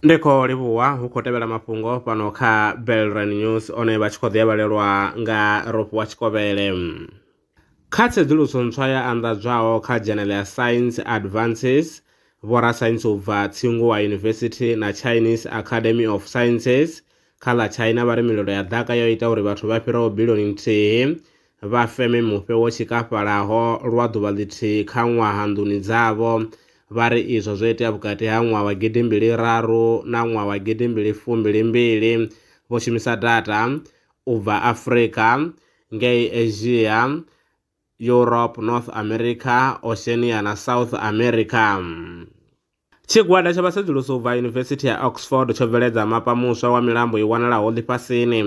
ndi khou livhuwa hu khou tevhela mafhungo fhano kha belran news one vha tshi khou ḓiavhalelwa nga rofhiwa tshikovhele kha tsedzuluso ntswa ya anḓadzwaho kha dzhenele ya science advances vhorasaintsi u bva tsinguwa university na chinese academy of sciences kha ḽa china vha ri mililo ya ḓaka yo ita uri vhathu vha fhiraho bilioni nthihi vha feme mufhe wo tshikafhalaho lwa ḓuvha ḽithihi kha ṅwaha nḓuni dzavho. Vha ri izwo zwo itea vhukati ha ṅwaha wa gidimbili raru na ṅwaha wa gidimbili fumbili mbili vho shumisa data u bva Afrika, ngei Asia, Europe, North America, Oceania na South America. Tshigwada tsha vhasedzulusi u bva Yunivesithi ya Oxford tsho bveledza mapa muswa wa milambo i wanalaho ḽifhasini.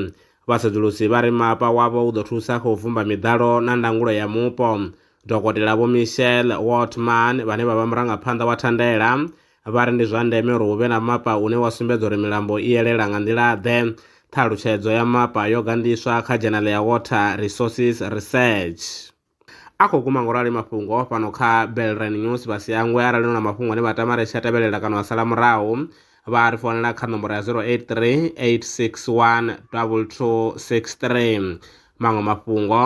Vhasedzulusi vha ri mapa wavho u ḓo thusa kha u bvumba miḓalo na ndangulo ya mupo. Dokotela Vho Michelle Wortman, vhane vha vha murangaphanḓa wa thandela, vha ri ndi zwa ndeme uri hu vhe na mapa une wa sumbedza uri milambo i elela nga nḓila-ḓe. Ṱhalutshedzo ya mapa yo gandiswa kha dzhenale ya Water Resources Research. a khou guma ngo rali mafhungo a fhano kha Belrine News vha si hangwe arali no na mafhungo ane vha tama ri tsha tevhelela kana wa sala murahu vha ri founela kha nomboro ya 083 861 2263 maṅwe mafhungo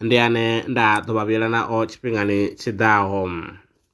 ndi ane nda ḓo vha vhuyela nao tshifhingani tshiḓaho.